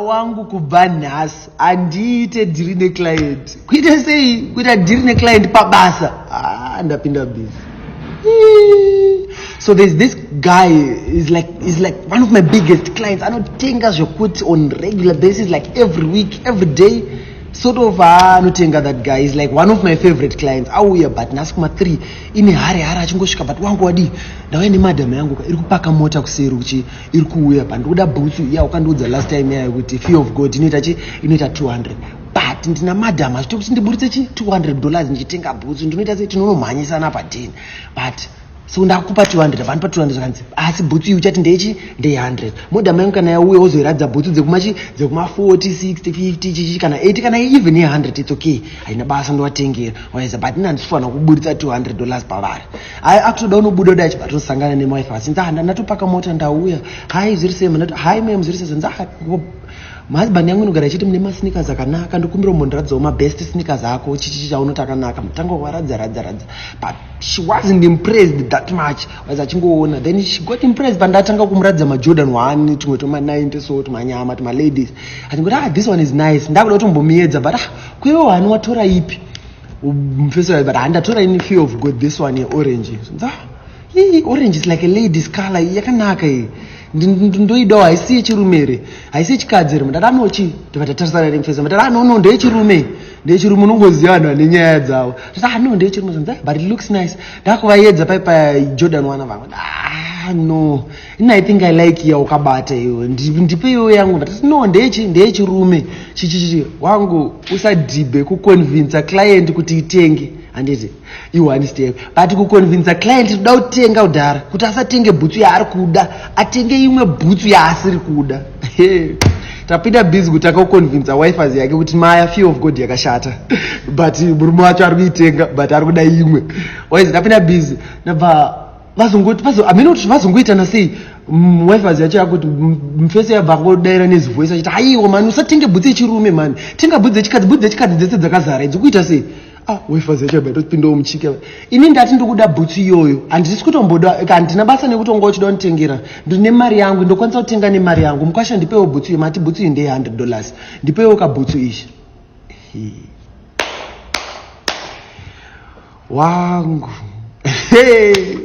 wangu kubva nhasi handiite dhiri neclient kuita sei kuita dhiri neclient pabasa ah, ndapinda busy so there's this guy is like is like one of my biggest clients anotenga zvekuti on regular basis like every week every day sort of ah, anotenga that guy is like one of my favorite clients auya but nhasi kuma three ine hari hari achingosvika but wangu wadii ndauya nemadam yangu ka iri kupaka mota kuseri uchi iri kuuya pa ndikuda bhutsu iya ukandiudza last time yayo kuti fear of god inoita chi inoita 200 but ndina madam achito kuti ndiburitse chi 200 dollars ndichitenga bhutsu ndinoita se tinonomhanyisana padin but so ndakupa 200 vandipa 200 kanzi asi bhutsu iyi uchati ndechi ndeye 100 modam yangu kana yauya wozoiradza bhutsu dzekumachi dzekuma 40 60 50 chichichi kana 80 kana even ye 100 its okay haina basa ndovatengera waiza but ini handisifanira kuburitsa 200 dollars pavari Hai akutoda unobuda uda achibva tosangana nemwife asi nda ndatopaka mota ndauya. Hai zviri sei mnati hai mem zviri sei nda mahusband yangu inogara ichiti mune masneakers akanaka ndokumbira umbondiradzawo mabest sneakers ako chichichi chaunoti akanaka mutanga waradza radza radza but she wasn't impressed that much was achingoona then she got impressed pandatanga kumuradza majordan one tumwe twema90 so tumanyama tumaladies achingoti ah this one is nice ndakuda kuti umbomiyedza but ah kuiwe wani watora ipi Mfesora but handatora ini fear of God this one orange. Nda hii orange is like a lady's color yakanaka iyi. Ndoidawo haisi yechirume here? Haisi yechikadzi here? Mdada anochi ndivati tarisana nemfesora. Mdada ah, no no ndeyechirume. Ndeyechirume unongoziva vanhu vane nyaya dzavo. Ndati ah no ndeyechirume. But it looks nice. Ndakuvaedza pai pa Jordan wana vangu. Ah no. ini i think i like ya ukabata iwe ndipe iwe yangu ndatati no ndechi ndeyechirume chichichi wangu usadhibhe kuconvinsa client kuti itenge handiti iwe handisiteve but kuconvinsa client tinoda kutenga kudhara kuti asatenge bhutsu yaari kuda atenge imwe bhutsu yaasiri kuda tapinda busy kuti akakuconvinsa wifers yake kuti maya fear of god yakashata but murume wacho ari kuitenga but ari kuda imwe waizi tapinda busy nabva vazongoti vazo hameno kuti vazongoitana sei mwifazi yacho yakuti mfese yabva kodaira nezivoisi achiti haiwa mani usatenge bhutsi yechirume mani tenga bhutsi dzechikadzi bhutsi dzechikadzi dzese dzakazara idzi kuita sei ah wifazi yacho yabva yatopindawo muchike ini ndati ndikuda bhutsi iyoyo handisi kutomboda handina basa nekutonga uchida kunditengera ndine mari yangu ndokwanisa kutenga nemari yangu mukwasha ndipewo bhutsi iyo mati bhutsi iyi ndeye hundred dollars ndipewo kabhutsu ichi wangu hey.